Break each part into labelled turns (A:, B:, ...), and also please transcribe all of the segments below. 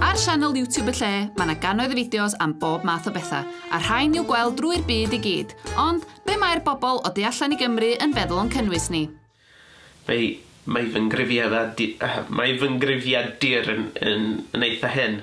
A: Ar sianel YouTube y lle, mae yna gannoedd o fideos am bob math o bethau, a rhain i'w gweld drwy'r byd i gyd. Ond, be mae'r bobl o du allan i Gymru yn feddwl o'n cynnwys ni? Mae,
B: mae fy ngrifiadur, mae fy ngrifiadur yn, yn, yn eitha hen.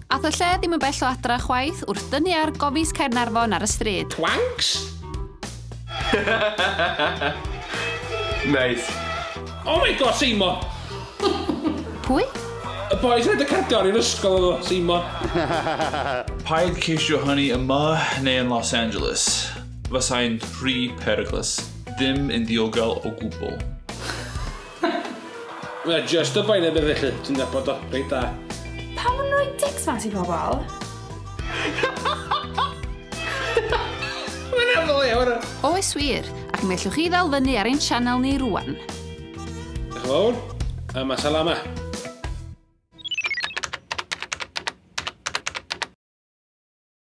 C: Ath y
A: lle ddim yn bell o adra chwaith wrth dynnu ar gofis Caernarfon ar y stryd. Twanks!
B: Neis. Oh my god,
C: Seimon!
A: Pwy? Y
C: boys rhaid y cardiau i'r ysgol oedd o, Seimon.
D: Paid ceisio hynny yma neu yn Los Angeles. Fasai'n rhy peryglus. Ddim yn ddiogel o gwbl.
C: Mae jyst y boen efyd felly, ti'n nabod o reit dda. Pam yn rhoi
E: dics mas i pobl?
C: Mae'n hynod iawn e! Oes wir,
A: ac mi ellwch chi ddal fyny ar ein
C: sianel
A: ni rŵan. Diolch yn fawr, a ma
C: salama.